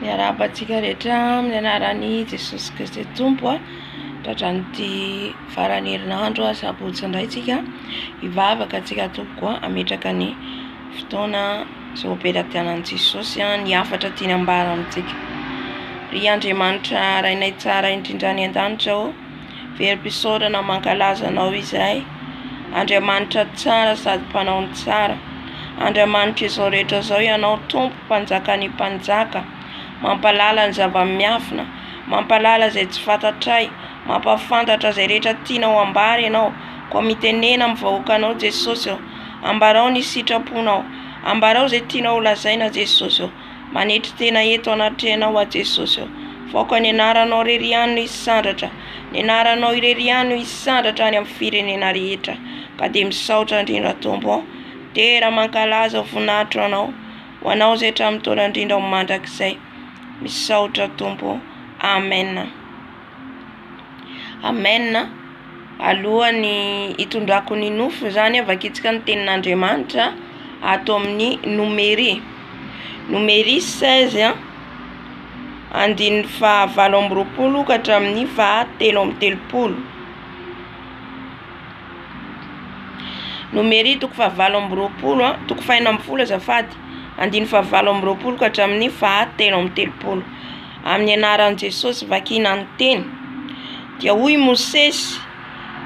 Miarahaba antsika rehetra amin'ny anaran'i Jesosy Kristy Tompo a. Tratran'ity faran'ny herinandro a sabotsy indray tsika hivavaka antsika tompoko a ametraka ny fotoana izao am-pelatianan'i Jesosy a ny hafatra tiana ambara amintsika. Ry Andriamanitra rainay tsara indrindra any an-danitra o. Verom-pisaorana mankalaza Anao izay, Andriamanitra tsara sady Mpanao ny tsara. Andriamanitra izao rehetra izao Ianao Tompo, Mpanjakan'ny mpanjaka, Mampahalala ny zava-miafina, Mampahalala izay tsy fantatray, Mampahafantatra izay rehetra tianao hambara Ianao, koa mitenena amin'ny vahoakanao Jesosy ô, Ambarao ny sitraponao, Ambarao izay tianao holazaina Jesosy ô. Manetry tena eto anatrehanao aho Jesosy ô. Faoka ny anaranao irery ihany no hisandratra, ny anaranao irery ihany no hisandratra any amin'ny firenena rehetra. Ka dia misaotra indrindra Tompo ô. Dera mankalaza ho voninahitro anao, ho anao izay hatramin'ny taona indrindra ho mandrakizay. Misaotra Tompo ô. Amen. Amen a! Alohan'ny hitondrako ny nofy izany aho vakintsika ny tenin'Andriamanitra ato amin'ny Nomery Nomery seize a andininy faha valo amby roapolo ka hatramin'ny faha telo amby telopolo Nomery toko faha valo amby roapolo a toko faha enina ambin'ny folo azafady andininy faha valo amby roapolo ka hatramin'ny faha telo amby telopolo. Amin'ny anaran'i Jesosy vakina ny teny. Dia hoy i Mosesy,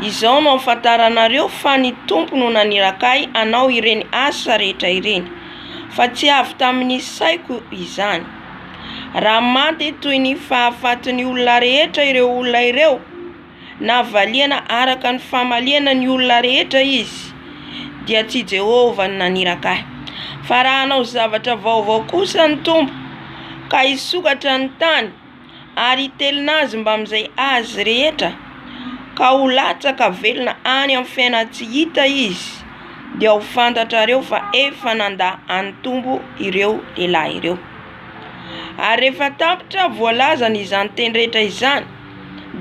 Izao no ahafantaranareo fa ny Tompo no naniraka ahy hanao ireny asa rehetra ireny, fa tsy avy tamin'ny saiko izany. Raha maty toy ny fahafatin'ny olona rehetra ireo olona ireo, Navaliana araka ny famaliana ny olona rehetra izy, dia tsy i Jehovah no naniraka ahy. Fa raha hanao zavatra vaovao kosa ny Tompo, ka hisokatra ny tany, ary hitelina azy mbamin'izay azy rehetra, ka ho latsaka velona any amin'ny fiainana tsy hita izy, dia ho fantatrareo fa efa nandà an'ny Tompo ireo lehilahy ireo. Ary rehefa tapitra voalazany izany teny rehetra izany,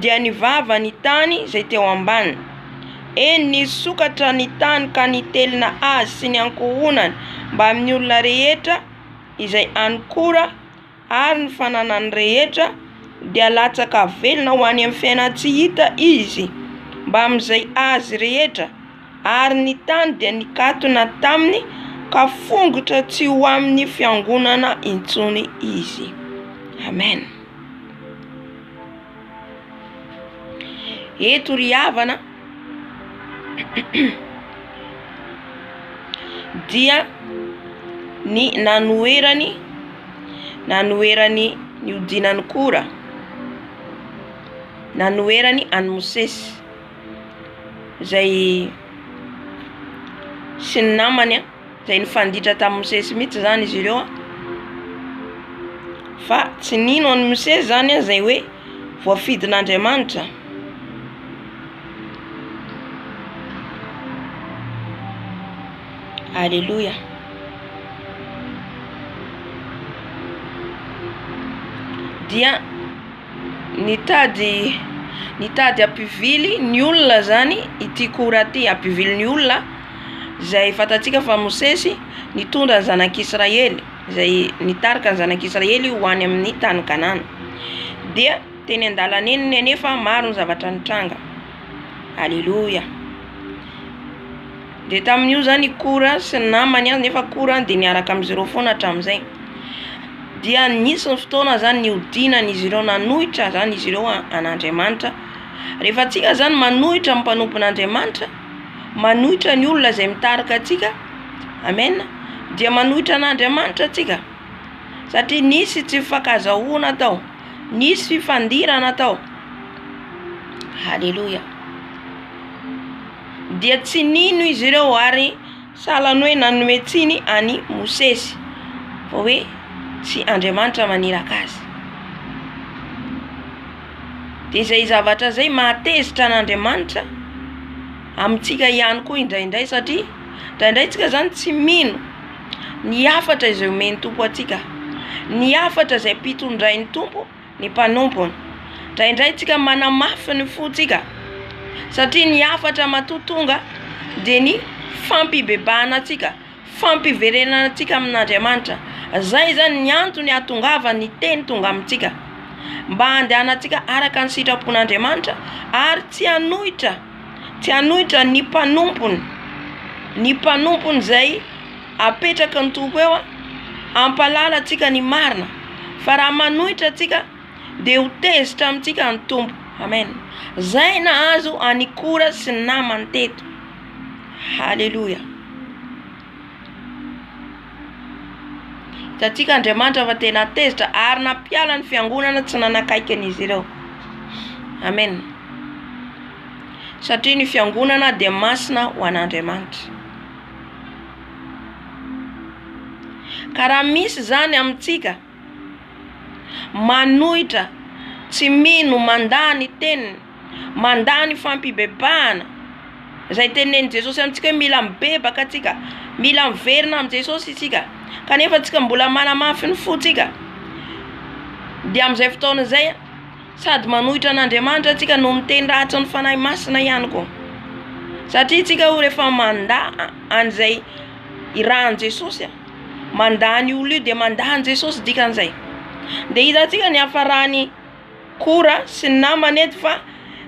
dia ny vava ny tany izay teo ambany. Eny, nisokatra ny tany ka nitelina azy sy ny ankohonany mbamin'ny olona rehetra izay any Kora, ary ny fananany rehetra, dia latsaka velona ho any amin'ny fiainan-tsy hita izy mbamin'izay azy rehetra, ary ny tany dia nikatona taminy ka fongotra tsy ho amin'ny fiangonana intsony izy. Amen. Eto ry havana dia ny nanoherany nanoherany nihodinan'i Kora, nanoherany an'i Mosesy izay sy ny namany. izay nifanditra tamin'i Mosesy mihitsy izany izy ireo an, fa tsy nino an'i Mosesy izany an izay hoe voafidin'Andriamanitra. Aleloia. Dia nitady nitady hampivily ny olona izany ity Kora ity, hampivily ny olona. izay fantatsika fa Mosesy nitondra ny zanak'Israely, izay nitarika ny zanak'Israely ho any amin'ny tany Kanana. Dia teny an-dalana eny anefa maro ny zavatra nitranga. Aleloia. Dia tamin'io zany i Kora sy ny namany an, nefa Kora dia niaraka amin'izy ireo foana hatramin'izay. Dia nisy ny fotoana zany nihodinan'izy ireo nanohitra zany izy ireo an'Andriamanitra. Rehefa antsika zany manohitra ny mpanompon'Andriamanitra, manohitra ny olona izay mitarika antsika amen dia manohitra an'Andriamanitra tsika satria nisy tsy fifankazahoana tao nisy fifandirana tao haleloia dia tsy nino izy ireo ary sahalan'ny hoe nanome tsiny any Mosesy fa hoe tsy Andriamanitra maniraka azy. dia izay zavatra izay mahatezitra an'Andriamanitra amintsika ihany koa indraindray satria indraindray tsika zany tsy mino ny hafatra izay omen'ny Tompo antsika, ny hafatra izay ampitondrain'ny Tompo ny mpanompony, indraindray tsika manamafy ny fontsika satria ny hafatra matoa tonga dia ny fampibebahana antsika. fampiverenantsika amin'Andriamanitra. Izay izany ny antony ahatongavan'ny teny tonga amintsika, mba handehanantsika araka ny sitrapon'Andriamanitra ary tsy hanohitra, tsy hanohitra ny mpanompony, ny mpanompony izay apetraky ny Tompo eo hampahalala antsika ny marina, fa raha manohitra antsika dia ho tezitra amintsika ny Tompo. Amen! Izay nahazo an'i Kora sy ny namany teto. Haleloia. Hitantsika Andriamanitra fa tena tezitra ary nampiala ny fiangonana tsy nanakaiky an'izy ireo. Amen. Satria ny fiangonana dia masina ho an'Andriamanitra. Ka raha misy izany amintsika manohitra, tsy mino, mandà ny teniny, Mandà ny fampibebahana. Izay tenenin'i Jesosy amintsika hoe mila mibebaka tsika. Mila miverina amin'i Jesosy isika. Kanefa tsika mbola manamafy ny fontsika. Dia amin'izay fotoana izay, sady manohitra an'Andriamanitra tsika no miteny rahatry ny Fanahy Masina ihany koa. Satria tsika o rehefa mandà an'izay irahan'i Jesosy, mandà an'io olona io dia mandà an'i Jesosy dikan'izay. Dia hitantsika ny hafaran'ny. Kora sy ny namany eto fa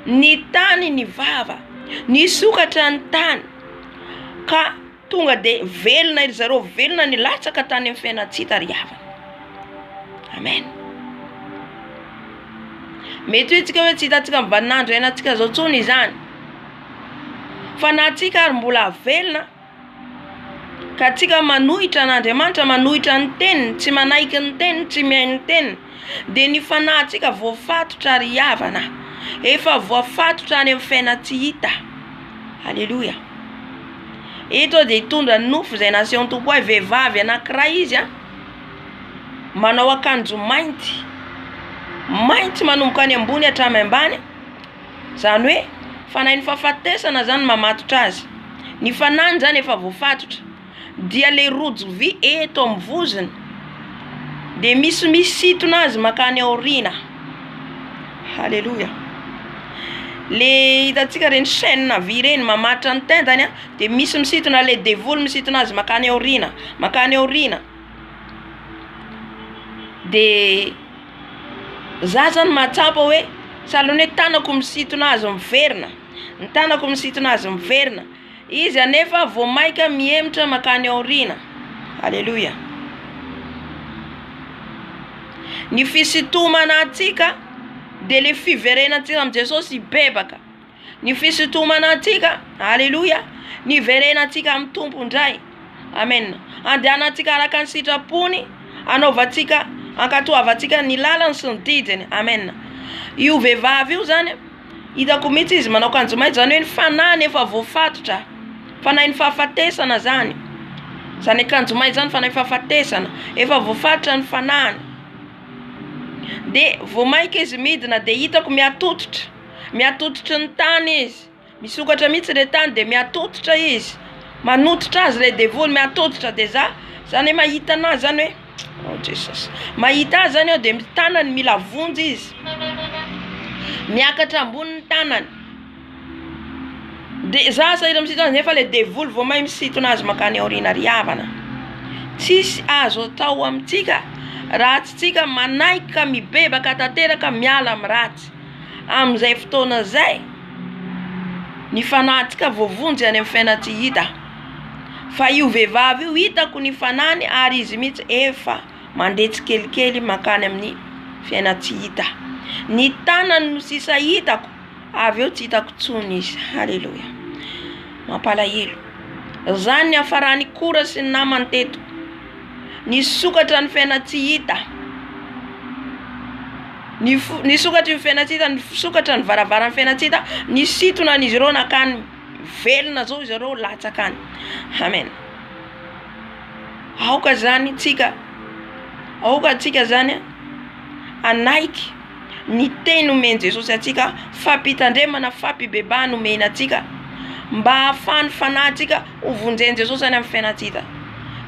ny tany ny vava, nisokatra ny tany ka tonga de velona ry zareo, velona nilatsaka tany amin'ny fiainana tsy hitariavana. Amen. Mety hoe tsika hoe tsy hitantsika ny vaninandro hiainantsika zao tsony izany fa na tsika ary mbola velona. Ka tsika manohitra an' Andriamanitra, manohitra ny teniny, tsy manaiky ny teniny, tsy mihaino ny teniny, dia ny fanahintsika voafatotra ry havana, efa voafatotra any amin'ny fiainana tsy hita. Aleloia. Eto dia hitondra ny nofo izay nasehon'ny Tompo ahy, vehivavy anankiray izy a, manao akanjo mainty, mainty manomboka any ambony hatramy ambany. Izany hoe fanahin'ny fahafatesana izany no mamatotra azy. Ny fanahiny izany efa voafatotra. Dia ilay rojo vy eto amin'ny vozony dia misy misintona azy mankany aoriana. Haleloia! Le hitantsika ireny chaine vy ireny mamatotra ny tendany a, dia misy misintona ilay devoly misintona azy mankany aoriana, mankany aoriana. De. Za zany mahatsapa hoe sahalan'ny hoe tanako misintona azy miverina, ny tanako misintona azy miverina, izy anefa vao maika mihemotra makany aoriana, aleloia. Ny fisintomana antsika de le fiverenantsika amin'i Jesosy hibebaka. Ny fisintomanantsika, aleloia, ny hiverenantsika amin'ny Tompo indray, amena, handehanantsika araka ny sitrapony, hanaovantsika, hankatoavantsika ny lalany sy ny didiny, amena. Io vehivavy io zany, hitako mihitsy izy manao kanjo mainty, zany hoe ny fanahiny efa voafatotra, fanahin'ny fahafatesana zany, zany akanjo mainty zany fanahin'ny fahafatesana, efa voafatotra ny fanahiny, de vao mainka izy midina de hitako mihatototra. mihatototry ny tany izy, misokatra mihitsy le tany de mihatotitra izy, manototra azy le devoly mihatotitra de za za ne mahita anazy zany hoe oh jesosy mahita azy zany aho de tanany mila vonjy izy miakatra ambony ny tanany de za sahirana misito azy nefa le devoly vao mahay misintona azy makany aoriana ry havana tsisy azo atao amintsika raha tsy tsika manaiky ka mibebaka tanteraka miala amin'ny ratsy. Amin'izay fotoana izay, ny fanahintsika voavonjy any amin'ny fiainana tsy hita, fa io vehivavy io hitako ny fanahiny ary izy mihitsy efa mandeha tsikelikely mankany amin'ny fiainana tsy hita, ny tanany no sisa hitako avy eo tsy hitako intsony izy, haleloia, mampalahelo, zany niafaran'i Kora sy ny namany teto. Nisokatra ny fiaina-tsy hita Nisokatra ny fiaina-tsy hita Nisokatra ny varavaran'ny fiaina-tsy hita Nisintona an'izy ireo nankany Velona izao izy ireo latsaka any Amen Aoka izany tsika Aoka tsika izany hanaiky ny teny omen'i Jesosy antsika Fampitandremana fampibebahana omena antsika Mba hahafahan'ny fanahintsika Ho vonjen'i Jesosy any amin'ny fiainantsika.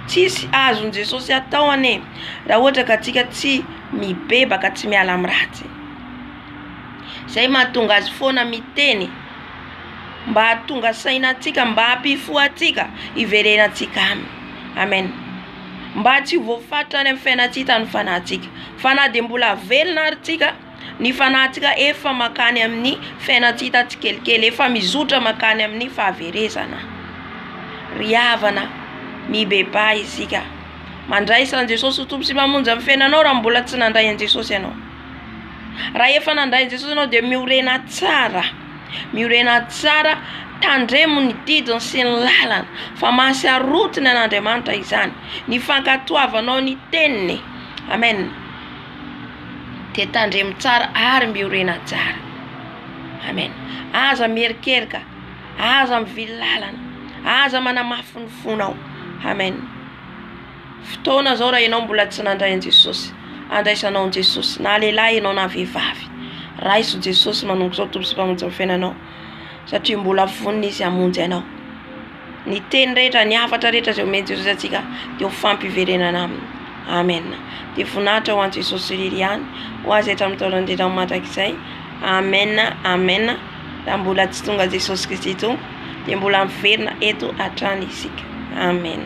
Tsisy azon'i Jesosy atao anie raha ohatra ka tsika tsy mibebaka tsy miala amin'ny ratsy. Zay mahatonga azy foana miteny mba hahatonga saina antsika mba hampifoha antsika hiverenantsika aminy. Amen. Mba tsy ho voafaritra any amin'ny fiainantsita ny fanahintsika. Fa na dia mbola velona ary tsika. ny fanahintsika efa mankany amin'ny fiainantsika tsikelikely, efa mizotra mankany amin'ny fahaverezana. Ry havana, mibebaha isika. Mandraisa an'i Jesosy ho Tompo sy Mpamonjy amin'ny fiainanao raha mbola tsy nandray an'i Jesosy ianao. Raha efa nandray an'i Jesosy ianao dia miorena tsara, miorena tsara, tandremo ny didiny sy ny lalany fa mahasarotiny an'Andriamanitra izany, ny fankatoavanao ny teniny. Amen. de tandremo tsara ary miorena tsara amen aza mierikerika aza mivily lalana aza manamafy ny fonao amen fotoana zao raha enao mbola tsy nandray an'i Jesosy andraisanao an'i Jesosy na lehilahy enao na vehivavy raiso Jesosy manomboka izao Tompo sy Mpamonjy ny fiainanao satria mbola vonona izy hamonjy anao. Ny teny rehetra, ny hafatra rehetra izay omen'i Jesosy antsika dia ho fampiverenana aminy. Amen. Dia voninahitra ho an'i Jesosy irery ihany, ho azy hatramin'ny taona indrindra ho mandrakizay. Amen, amen. Raha mbola tsy tonga Jesosy Kristy Tompo, dia mbola miverina eto hatrany isika. Amen.